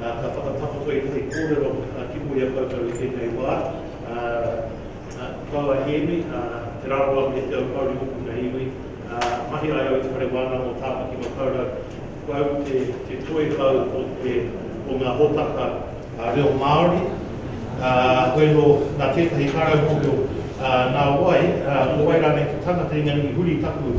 ā, ka whakatakotoitoi kōrero ki mua i a koutou i tēnei wā, ā, kau a Hēmi, ā, te rarawa me te aupouri hoki mea iwi, ā, mahi ai au i te whare wānanga o Tāpaki Makaurau, ko au te, te toi hou o te, o ngā hōtaka, ā, reo Māori, ā, hoi anō, nā tētahi karau mōhio, ā, nā wai, ā, nō wai rānei te tangata i ngā iwi huri taku,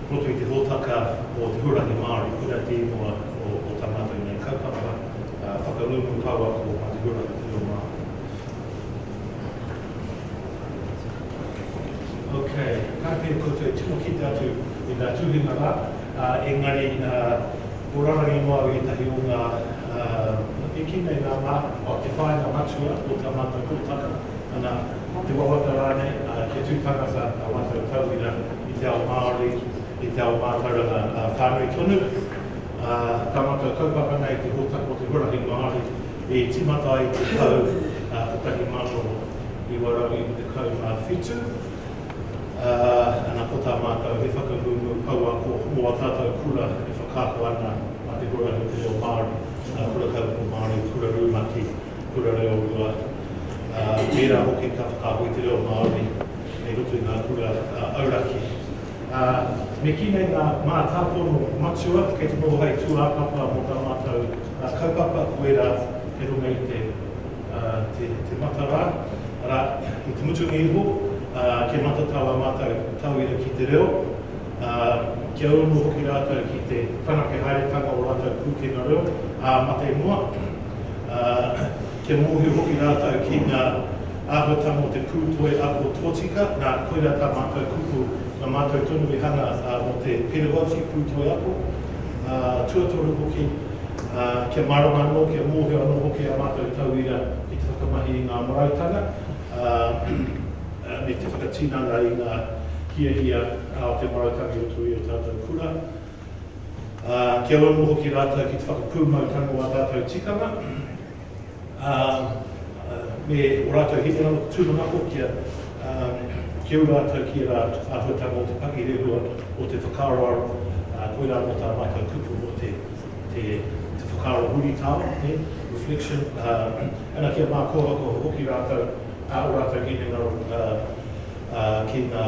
Hoki te hōtaka o Te Huarahi Māori, kura te ingoa o tā mātou nei kaupapa, whakangungu pouako mā te huarahi te reo Māori. Ok, karakia koutou e tino kite atu i ngā tuhinga rā, engari ko rarangi noa au i ētahi o ngā, e kī nei ngā mā, te whāinga matua o tā mātou hōtaka, ana, te wawata rānei, kia tū tangata ā mātou tauira, i te ao Māori, i te ao mātauranga whānui tonu. Ka mata kaupapa nei te hōtaka o te huarahi Māori i tīmata ai i te tau 1997. Ana, ko tā mātou he whakangungu pouako mō ā tātou kura e whakaako ana mā te huarahi o te reo Māori, Kura Kaupapa Māori, Kura Rumaki. Te Kura Reo o mua, ā, tērā hoki ka whakaako i te reo Māori kei roto i ngā kura auraki. Ā, me kī nei ngā mātāpono matua kei te noho hei tūāpapa mō tā mātou kaupapa, ko ērā kei runga i te, ā, te, te mata rā, arā, i te mutunga iho, ā, kia matatau ā mātou tauira ki te reo, ā, kia uru hoki rātou ki te whanake haeretanga o rātou pūkenga reo, ā, mate noa. ā, kia mōhio hoki rātou ki ngā āhuatanga o te pūtoi ako tōtika, nā, koirā tā mātou kupu, nā mātou tonu i hanga mō te perawauti pūtoi ako, ā, tuatoru hoki, ā, kia mārama anō, kia mōhio anō hoki ā mātou tauira ki te whakamahi i ngā marautanga, ā, me te whakatinana i ngā hiahia o te marautanga i roto i ō tātou kura. ā, kia uru hoki rātou ki te whakapūmau tango o ā tātou tikanga, ā, me ō rātou hinengaro tūmanako kia, ā, kia uru rātou ki ērā āhuatanga o te pakirehua, o te whakaaroaro, ā, koirā anō tā mātou kupu mō te, te, te whakaaro huritao, e, reflection, ā, ana kia mākohako hoki rātou, ā, ō rātou hinengaro, ā, ā, ki ngā,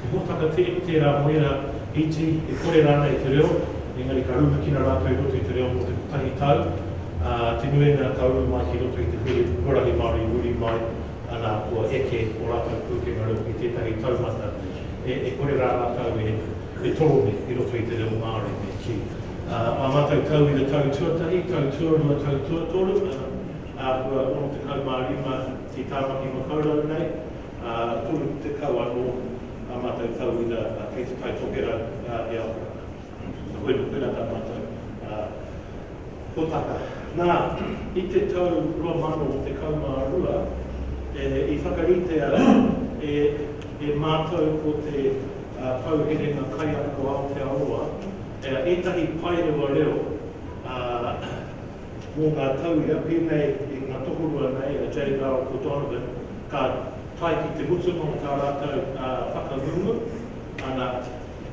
He hōtaka tere tērā mō ērā iti e kore rānei te reo, engari ka rumikina rātou i roto i te reo mō te kotahi tau, ā, te nuinga ka uru mai ki roto i te huarahi Māori muri mai, anā, kua eke ō rātou pūkenga reo ki tētahi taumata e kore rā rātou e toroni i roto i te reo Māori, me kī. Ā mātou tauira tau tuatahi, tau tuarua, tau tuatoru, ā, āhua 65 i Tāmaki Makaurau nei, Ā, e toru tekau anō ā mātou tau ira ā kei te Taitokera ā e ako ana. Ka hoi noa, koirā tā mātou ā hōtaka. Nā, i te tau 2012 e i whakaritea e e mātou ko te ā Pou Herenga Kaiako Aotearoa ā ētahi paerewa reo ā. Mō ngā tauira, pēnei i ngā tokorua nei, a Jay Bell ko Donovan, ka tae ki te mutunga o tā rātou whakangungu, ana,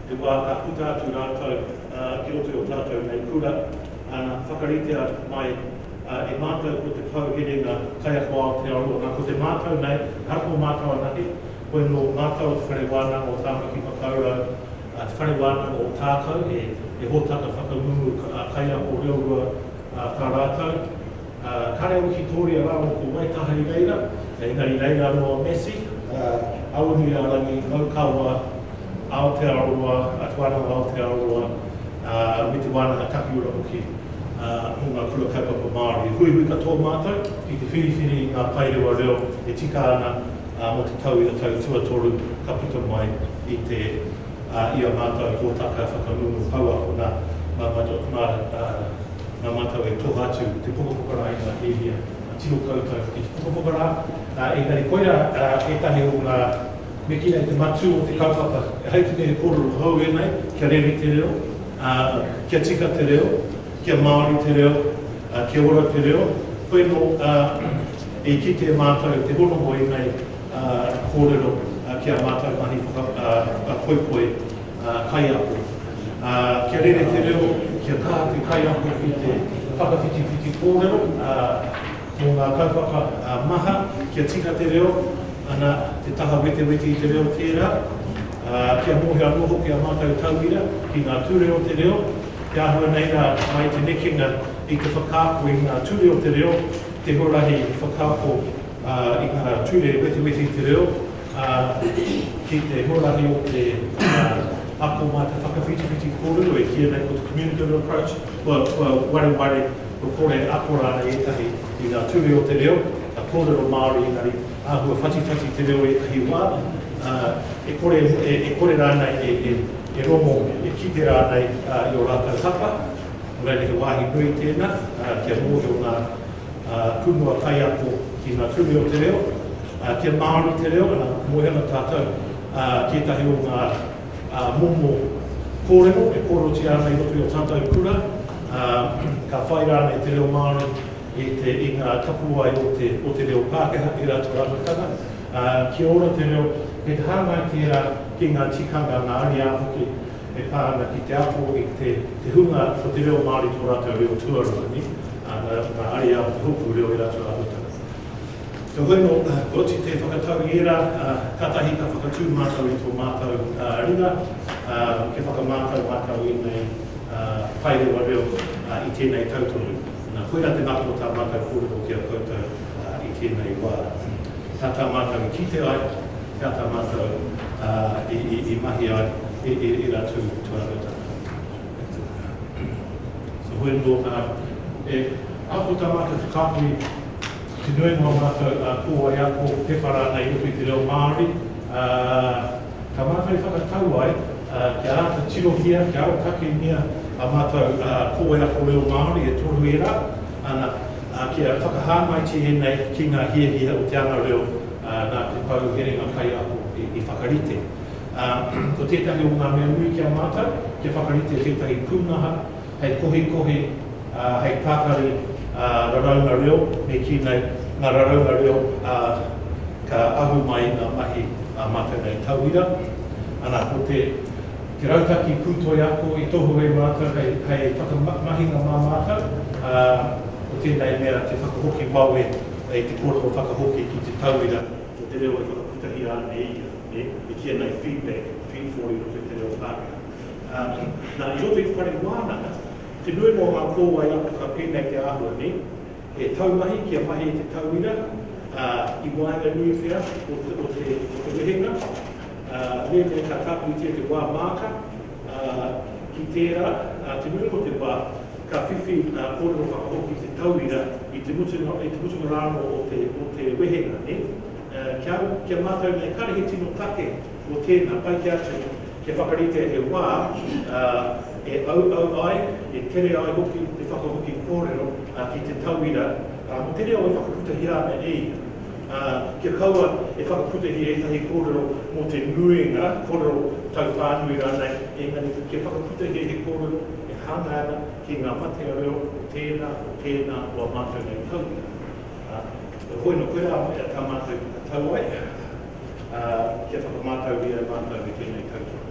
te wā ka puta atu rātou ki roto i ō tātou nei kura, ana, whakaritea mai e mātou ko te pou herenga kaiako Aotearoa. Nā, ko te mātou nei, ahakoa mātou anake, koinō mātou o Te Whare Wānanga o Tāmaki Makaurau, te whare wānanga o Tākou, he hōtaka whakangungu kaiako reo rua tā rātou. Kāre au ki Tōria rāua ko Waitaha i reira, engari reira anō a Massey, Awanuiārangi, Raukawa, Aotearoa, Te Wānanga o Aotearoa, me te Wānanga Takiura hoki o ngā Kura Kaupapa Māori. Huihui katoa mātou ki te whiriwhiri i ngā paerewa reo e tika ana mō te tau i a tau tuatoru ka puta mai. i te, ā, i ā mātou hōtaka whakangungu pouako, nā, nā mātou, nā, ā, nā mātou e toha atu te pukapuka rā i ngā hiahia, ā, tino koutou hoki te pukapuka rā, ā, engari koirā, ā, ētahi o ngā. Me kī nei te matū o te kaupapa, hei te mea he kōrero hou ēnei, kia rere te reo, ā, kia tika te reo, kia Māori te reo, ā, kia ora te reo, hoi anō, ā, i kite mātou te hono o ēnei. kōrero ki a mātou mahi poipoi kaiako. Kia rere te reo, kia kā te kaiako ki te whakawhitiwhiti kōrero mō ngā kaupapa maha, kia tika te reo, ana, te taha wetewete i te reo tērā. Kia mōhio anō hoki a mātou tauira ki ngā ture o te reo, te āhua nei rā mai te nekenga i te whakaako i ngā ture o te reo, te huarahi whakaako, Ā, i ngā ture wetiweti te reo, ā, ki te huarahi o te ako mā te whakawhitiwhiti kōrero e kīia nei ko te communicative approach, kua, kua wareware, kua kore e ako rānei ētahi i ngā ture o te reo, ka kōrero Māori engari āhua whatiwhati te reo ētahi wā, ā, e kore, e, e kore rānei e, e, e rongo, e kite rānei i ō rātou hapa. Nō reira he wāhi nui tēnā, ā, kia mōhio ngā. Kumu a Kaiako ki nga Ture o te Reo, kia Māori te reo, ana, moe ana tātou ki ētahi o ngā momo kōrero e kōrerotia ana i roto i o tātou kura, ka whai rānei te reo Māori i te, i ngā tapuwae o te, o te reo Pākehā i rātou rangataha, kia ora te reo, kei te hāngai tērā ki ngā tikanga, ngā ariā hoki e pā ana ki te ako i te, te hunga ko te reo Māori tō rātou reo tuarua, nē? Ā, nā, nā Ariā te hōpū reo e rata rātou tana. Heoi anō, koti te whakatau i ērā, ā, kātahi ka whakatū mātou i tō mātou, ā, ringa, ā, kia whakamātau mātou i ēnei, ā, paerewa reo, ā, i tēnei tau tonu. Nā, koirā te ngako o tā mātou kōrero ki a koutou, ā, i tēnei wā. He aha tā mātou i kite ai, he aha tā mātou, ā, i, i, i mahi ai, e, e, e rātou tūāhuatanga. Te Hoe Tōtara, e ako tā mātou te kāhui ki te nuinga o mātou kōwae ako, pepa rānei i roto i te reo Māori, ā, tā mātou i whakatau ai kia āta tirohia, kia arotakengia ā mātou kōwae ako reo Māori e toru ērā, ana, ā, kia whakahāngaitia ēnei ki ngā hiahia o te anga reo nā te pou herenga kaiako i whakarite. ā, ko tētahi o ngā mea nui ki a mātou kia whakarite tētahi pūnaha hei kohikohi, ā, hei pakari, ā, raraunga reo, me kī nei, ngā raraunga reo, ā, ka ahu mai i ngā mahi a mātou nei tauira. Ana, ko te, te rautaki pūtoi ako i tohu e mātou hei, hei whakamahinga mā mātou, ā, ko tēnei mea te whakahoki wawe i te kōrero whakahoki ki te tauira o te reo e whakaputahia ana e ia. e kīia nei feedback, feed forwarding o te tere o Pākehā. Nā, i roto i te whare wānanga, te nui noa o ngā kōwae ako ka pēnei i te āhua nei, he taumahi kia mahi i te tauira, ā, i waenganui pea o te wehenga, ā, mēnei ka tāpiritia te wā māka, ā, ki tērā, ā, te nui noa o te wā, ka whiwhi ngā kōrero whakahoki i te tauira i te mutunga rānō o te wehenga, nē? Kia, kia mātau nei, kāre he tino take o tēnā, pai ki a tou kia whakaritea he wā, ā, e auau ai, e tere ai hoki te whakahoki kōrero, ā, ki te tauira, ā, mō te reo e whakaputahia ana e ia. Ā, kia kaua e whakaputahia ētahi kōrero mō te nuinga, kōrero tauwhānui rānei, engari kia whakaputahia he kōrero e hāngai ana ki ngā matea reo o tēnā, o tēnā o ā mātau nei tauira. Ā, hoi nō, koirā hoki a tā mātou tauae, ā, kia whakamātauria e mātou e tēnei tautohe.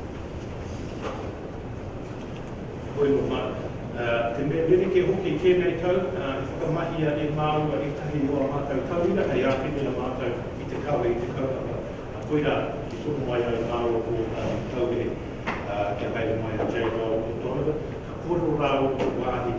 Hoi nō māu, ā, te mea rerekē hoki i tēnei tau, ā, i whakamahia e māua ētahi o ā mātou tauira hei āwhi me ā mātou i te kawe i te kaupapa, ā, koirā i tono mai ai māua ko ōtātou tauire, ā, kia haere mai a Jay Gold O'Donovan, ka kōrero rāua ki te wāhi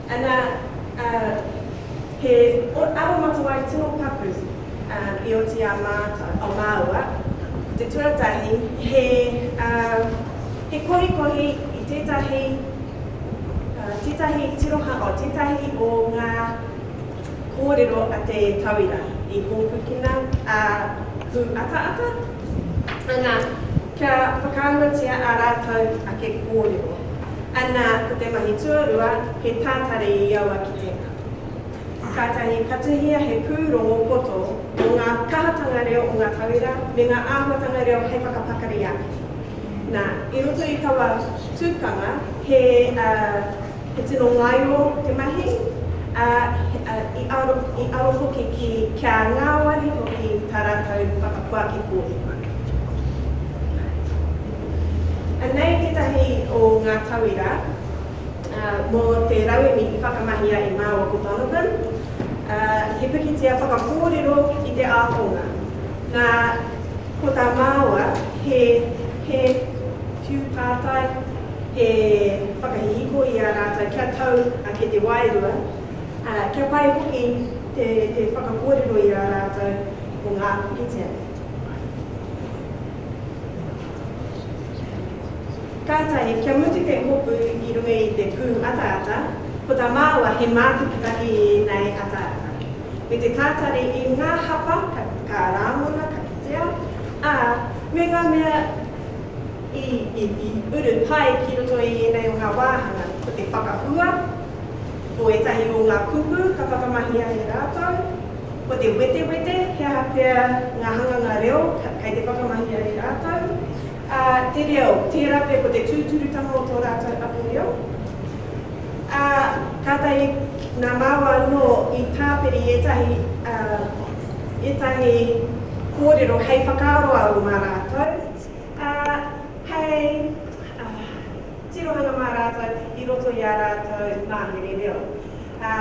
Ana, ā, he aromatawai tino paku, ā, i oti a mātou, a māua, ko te tuatahi, he, ā, he kohikohi i tētahi, ā, tētahi tirohanga, o tētahi o ngā kōrero a te tauira i hōpukina, ā, pūataata. Ana. Kia whakaahuatia ā rātou ake kōrero. Anā, ko te mahi tuarua, he tātari i aua kitenga. Kātahi ka tuhia he pūrongo poto mō ngā kahatanga reo o ngā tauira me ngā āhuatanga reo hei whakapakari ake. Nā, i roto i taua tukanga, he. He tino ngaio te mahi, ā, i aro, i aro hoki ki, kia ngāwari hoki tā rātou whakapuaki kōrero. Anei tētahi o ngā tauira, ā, mō te rauemi i whakamahia e Māua ko Donovan, ā, he pikitia whakakōrero i te ākonga. Nā, ko tā Māua, he, he. Tū pātai. he whakahihiko i a rātou kia tau ake te wairua, ā, kia pai hoki te, te whakakōrero i a rātou mō ngā puritia. Kātahi, kia mutu te hopu i runga i te pū ataata, ko tā māua he mātakitaki i ēnei ataata. Me te tātari i ngā hapa ka, ka rāngona, ka kitea, ā, me ngā mea. I, i, i uru pai ki roto i ēnei o ngā wāhanga, ko te whakahua, ko ētahi o ngā kupu ka whakamahia e rātou, ko te wetewete, he aha pea ngā hanganga reo kei te whakamahia e rātou, ā, te reo, tērā pea ko te tūturutanga o tō rātou ake reo. Ā, kātahi nā māua anō i tāpiri ētahi, ā, ētahi kōrero hei whakaaro aro mā rātou. Ā, hei tirohanga mā rātou i roto i ā rātou mahere reo. Ā,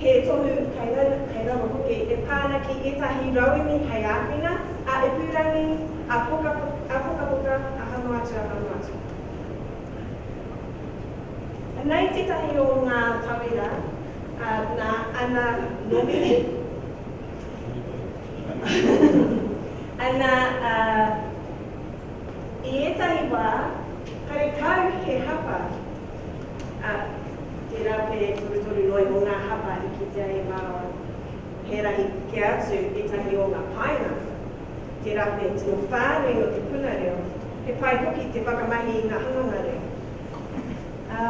he tohu kei raro hoki e pā ana ki ētahi rauemi hei āwhina a ipurangi, a pokapoka, a hanga atu, a hanga atu. Anei tētahi o ngā tauira nā Anna Nomine. Ana, ā, i ētahi wā, karekau he hapa, ā, tērā pea e torutoru noa iho ngā hapa i kitea e Mārawa. He rahi kē atu ētahi o ngā painga, tērā pea he tino whānui nō te puna reo, he pai hoki te whakamahi i ngā hanganga reo. Ā.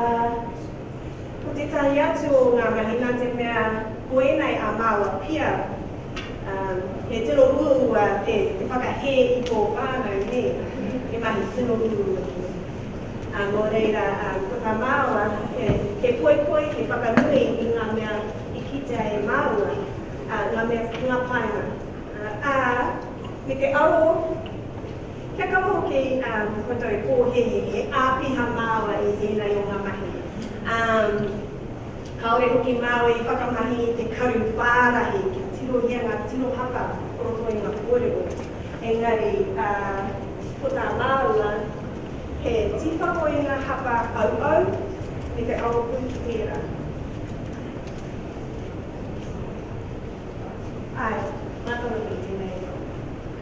Ko tētahi atu o ngā mahi nā te mea ko ēnei a māua pia, he tino uaua te whakahē i tō whānau, nē, he mahi tino uaua tēnei. Nō reira, ko tā māua, he poipoi, he whakanui i ngā mea i kitea e māua, ngā mea, ngā painga, ā, me te aro, Kia kaua hoki koutou pōhēhē e āpiha māua i ēnei o ngā mahi, ā, kāore hoki māua i whakamahi i te karu whārahi kia tirohia ngā tino haka o roto i ngā kōrero. Engari, ā, ko tā māua, he tīpako i ngā haka auau me te aropū ki tērā. Āe, mātanga nui tēnei.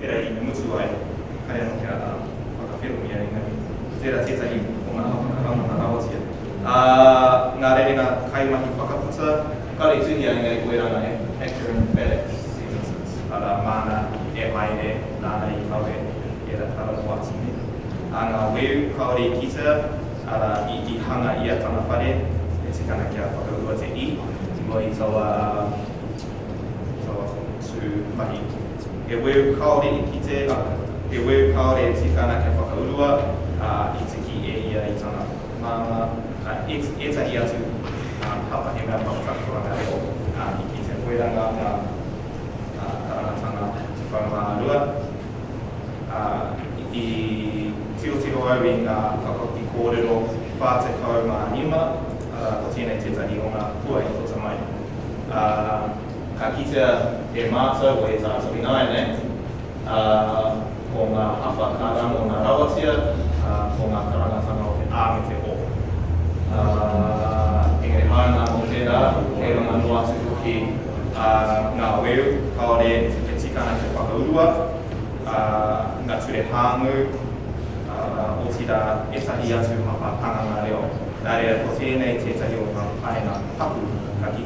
Pera i mutu ai, kare anō kia whakawherowhia engari, ko tērā tētahi o ngā hapa ka rangona rawatia. Ā, ngā rerenga kaimahi whakaputa. Kāore i tuhia engari ko ērā ngā acrobatic sentences, arā, māna e haere, nāna i kawe, ērā kara mō atu nei. Ā, ngā weu kāore i kitea, arā, i hanga i a tana whare, e tika ana kia whakaua te i. Moe i taua, taua tū mahi. He weu kāore i kite, arā, he weu kāore e tika ana kia whakaurua, ā, i tiki e ia i tana māmā, ā, ētahi atu, ā, kātahi he mea whakatakotoranga reo, ā, i kite koirā ngā mea, ā, karangatanga tekau mā rua, ā, i tirotiro au i ngā whakahoki kōrero whā tekau mā rima, arā, ko tēnei tētahi o ngā hua i puta mai, ā. Ka kitea e mātou o ētātou ināianei, ā, ko ngā hapa ka rangona rawatia, ā, ko ngā karangatanga o te a me te o. Ā, engari hāunga nō tērā, kei runga noa atu hoki, ā, ngā weu, kāore he tikanga kia whakaurua, ā, ngā ture hāngū, ā, otirā, ētahi atu hapa hanganga reo. Nā reira, ko tēnei tētahi o ngā painga tapu ka kitea.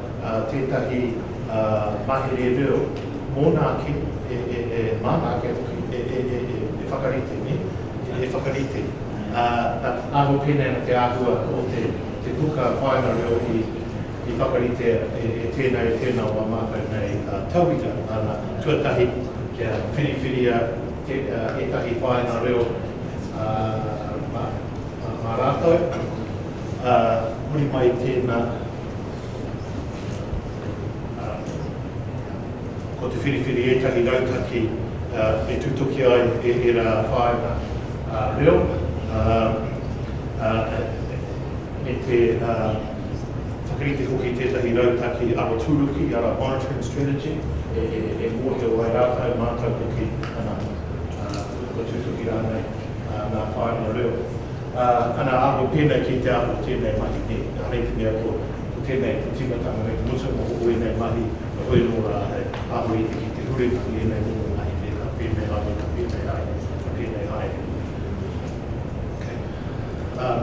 tētahi mahere reo mōna ake e māna ake hoki, e whakarite nei, e whakarite. Nā te aro pēnei ana te āhua o te puka whāinga reo i whakarite e tēnā, e tēnā o ngā mākau nei tauira, ana, tuatahi kia whiriwhiria ētahi whāinga reo mā rātou, huri mai i tēnā. Ko te whiriwhiri ētahi rautaki e tutuki ai e ērā whāinga reo me te whakarite hoki i tētahi rautaki aroturuki, ara monitoring strategy, e mōhio ai rātou, mātou hoki, ana, kua tutuki rānei ngā whāinga reo. Ā, ana aho tēnei ki te aho o tēnei mahi nei, engari i te mea ko, ko tēnei te tīmatanga me te mutunga o ēnei mahi, heoi anō rā, he aho iti ki te huri ki ēnei momo mahi nei, ka pēnei haere, ka pēnei haere, ka pēnei haere. Okay. Ā.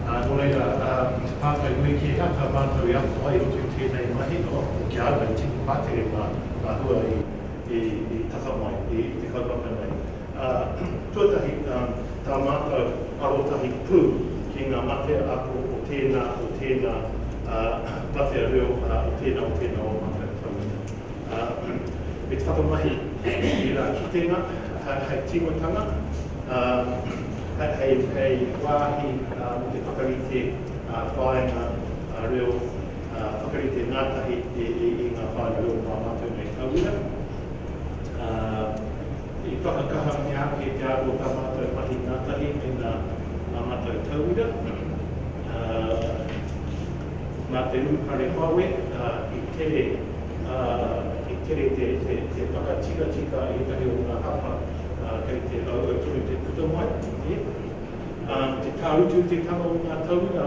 Ā, nō reira, ā, i te pātai nui kē, hea tā mātou i ako ai i roto i tēnei mahi? Oh, ko ki a au, hei tipu pātere ngā, ngā hua i, i, i taka mai i, i te kaupapa nei. Ā, tuatahi, tā mātou arotahi pū ki ngā matea ako o tēnā, o tēnā matea reo, ā, o tēnā, o tēnā o mātou tauira. Ā, me te whakamahi i ērā kitenga hei tīmatanga, ā, hei wāhi mō te whakarite whāinga reo, whakarite ngātahi i ngā whāinga reo o ngā mātou nei tauira. Ā. I whakakahangia ake te aro o tā mātou mahi ngātahi me ngā mātou tauira, ā, mā te urupare wawe, ā, i tere, ā, i tere te, te, te whakatikatika i ētahi o ngā hapa, ā, kei te auau tonu te puta mai, e. Ā, te tāutu te tanga o ngā tauira,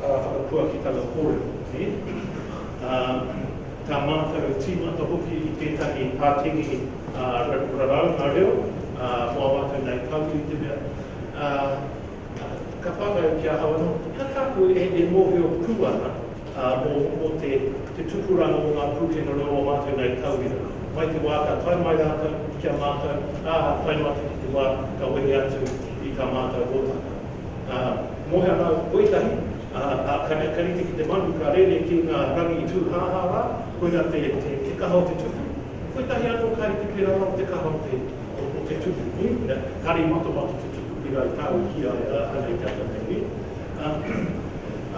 whakapuakitanga kōrero, nē? Ā, tā mātou tīmata hoki i tētahi pātengi raraunga reo wawata nei pahū i te mea, ā, ka whāngai ki ahau anō, ka tāku e mōhio pū ana mō te tupuranga o ngā pūkenga reo o mātou nei tauira, mai te wā ka tae mai rātou ki a mātou, ā, tae noa atu ki te wā ka wehe atu i tā mātou hōtaka. ā, moe ana o te koetahi, ā, ā, ka nei, ka rite ki te manu, ka rere ki ngā rangi tūhāhā rā, koina te, te, te kaha o te tupu. Koetahi anō ka rite pērā rā o te kaha o te, o, o te tupu, nē? Nā, kāre i matamata te tupu pērā i tāu ki a, a, a nei tata nei, nē? Ā,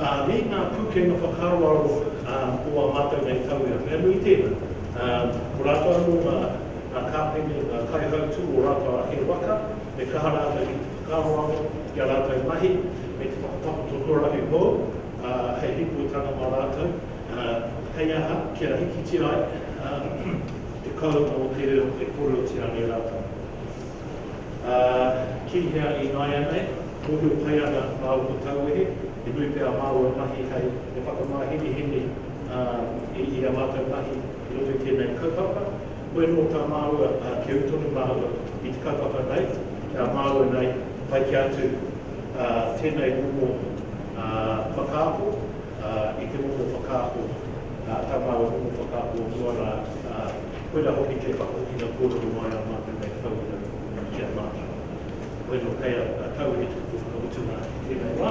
ā, nē ngā pūkenga whakaaro, ā, o ā mātou nei tauira, mea nui tēnā. Ā, ko rātou anō ngā, ngā kāpene, ngā kaihautū o rātou ake waka, e kaha rātou ki, Ka roa anō i a rātou mahi me te whakatakoto huarahi hou, ā, hei rīpoitanga mā rātou, ā, hei aha kia hikitia ai, ā, te kounga o te reo e koreutia nei rātou. Ā, ki hea i nāianei, mōhio pai ana māu ko Tauwehe, he nui pea māu e mahi hei he whakamāhenehene, ā, i ā mātou mahi i roto i tēnei kaupapa. Koe nō tā māua, ā, keu tonu māua i te kaupapa nei, nā māua nei, pai kē atu, ā, tēnei momo, ā, whakaako, ā, i te momo whakaako, ā, tā māua momo whakaako o mua rā, ā, koirā hoki te whakahokinga kōrero mai ā mātou nei tauira ki a mātou. Koe nō kei a, a Tau he tuku whakamutunga i tēnei wā.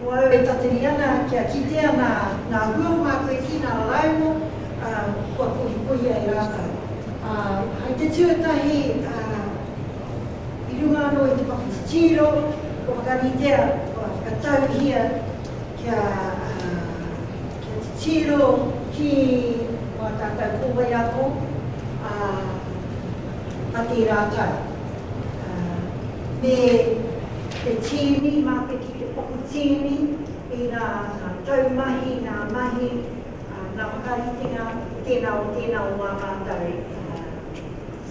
Ko au e tateri ana kia kitea nā ngā hua māku e kī, nā rāua kua kohikohi ai rātou. Ā, hai te tuatahi, ā, i runga anō i te paku titiro, kua whakaritea, kua whakatauhia kia, ā, kia titiro ki wā tātou kōwae ako, ā, mate rātou, ā, me te tīni mā te. te paku tīni, i ngā taumahi, ngā mahi, ngā whakaritenga, tēnā o tēnā o ā mātou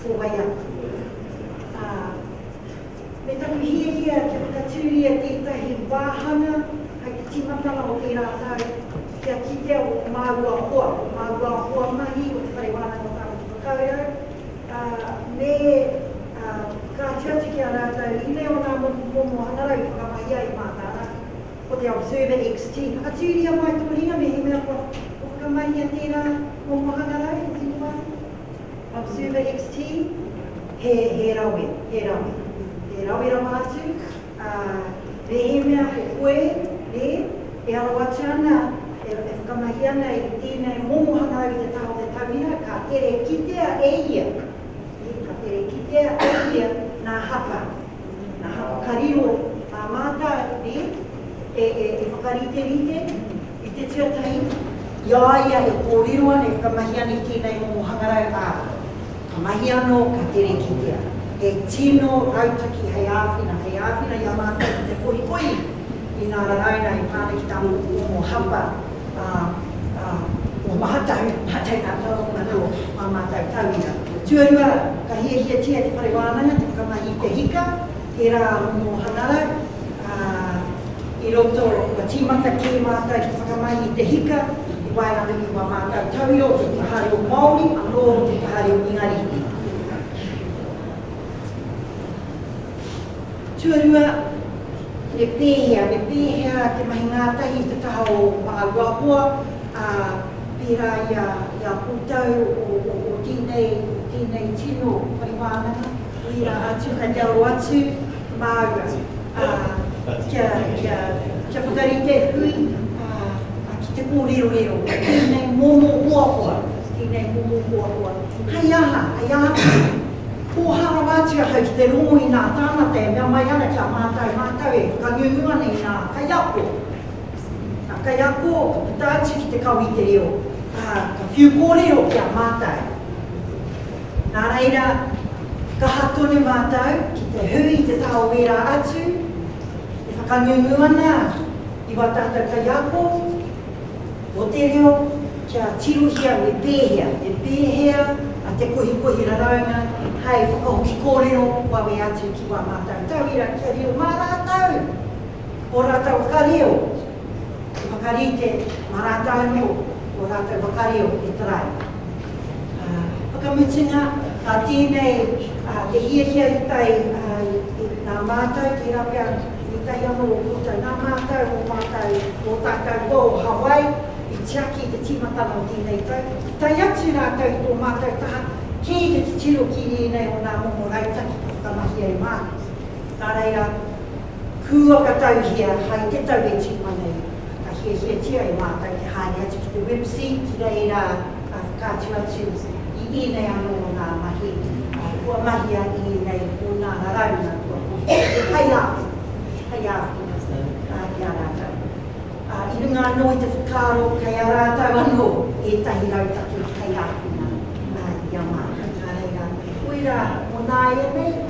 ko wai atu. Me taku hiahia kia whakatūria tētahi wāhanga hai te tīmatanga o tērā tau kia kitea ō māua hoa, ō māua hoa mahi o Te Whare Wānanga Whānau Whakaaurau, ā, me, ā, ka atu atu ki a rātou i te o ngā moku momo hangarau i whakamahi ai mā tārahi, ko te Observer XT. Whakatūria mai tō ringa mehemea kua whakamahia tērā momo hangarau i tō wāhi. Observer XT, he, he rawe, he rawe, he rawe rawa atu. Ā, mehemea ko koe, nē, e aro atu ana, e whakamahi ana i tēnei momo hangau i te taha o te tauira, ka tere kitea e ia, nē, ka tere kitea e ia nā hapa, nā hapa ka riro, nā mātau, nē, e whakariterite, I te tuatahi, i a ia e kōrero ana, e whakamahi ana i tēnei momo hangarau, ā, ka mahi anō, ka tere kitea. He tino rautaki hei āwhina, hei āwhina i a mātou ki te kohikohi i ngā raraunga e pā ana ki tā rōku momo hapa, ā, ā, kua maha tahi, maha tahi ngā taonga nō ā mātou tauira. Tuarua, ka hiahiatia e te whare wānanga te whakamahi i te hika, He rā momo hangarau, ā, i roto, kua tīmata kē mātou te whakamahi i te hika, i waenganui i wā mātou tauira o te taha reo Māori anō o te taha reo Ingarihi. Tuarua, me pēhea, me pēhea te mahi ngātahi i te taha o Māruahoa, ā, pērā i a, i a koutou o, o, o tēnei, o tēnei tino whare wānanga? I a atu ka raro atu māua, ā, kia, kia, kia whakarite hui, ā, ā, ki te kōrerorero, tēnei momo hoahoa, tēnei momo hoahoa, hei aha, hei aha tonu, pōhā rawa atu ahau ki te rongo i nā tāngata e mea mai ana ki a mātau, mātau e whakangungu ana i ngā kaiako, ngā kaiako ka puta atu ki te kawe i te reo, ā, ka whiu kōrero ki a mātau. Nā reira, kaha tonu mātou ki te hui i te taha o ērā atu e whakangungu ana i wā tātou kaiako o te reo kia tirohia me pēhea, me pēhea a te kohikohi raraunga hei whakahoki kōrero wawe atu ki wā mātou tauira kia riro mā rātou ō rātou whakareo. He whakarite mā rātou anō ō rātou whakario e tarai. Whakamutunga, nā tēnei te hiahia i tae i nā mātou, tērā pea i tae anō o koutou, nā mātou, ō mātou, ō tātou hoa o Hawaii i tiaki i te tīmatanga o tēnei tau, i tae atu rātou i tō mātou taha kē i te titiro ki ēnei o nā momo rautaki ka whakamahia e mātou. Nā reira. Kūakatauhia hai te tau e tīma nei, ka hiahiatia e mātou te haere atu ki te Web Seat, ki reira ka whakaatu atu i ēnei anō ngā mahi kua mahia i ēnei o ngā raraunga kua kohia hai āwhina, hai āwhina ki a rātou. I runga anō i te whakaaro kei a rātou anō ētahi rautaki hai āwhina i a mātou, nā reira, koirā mō nāianei.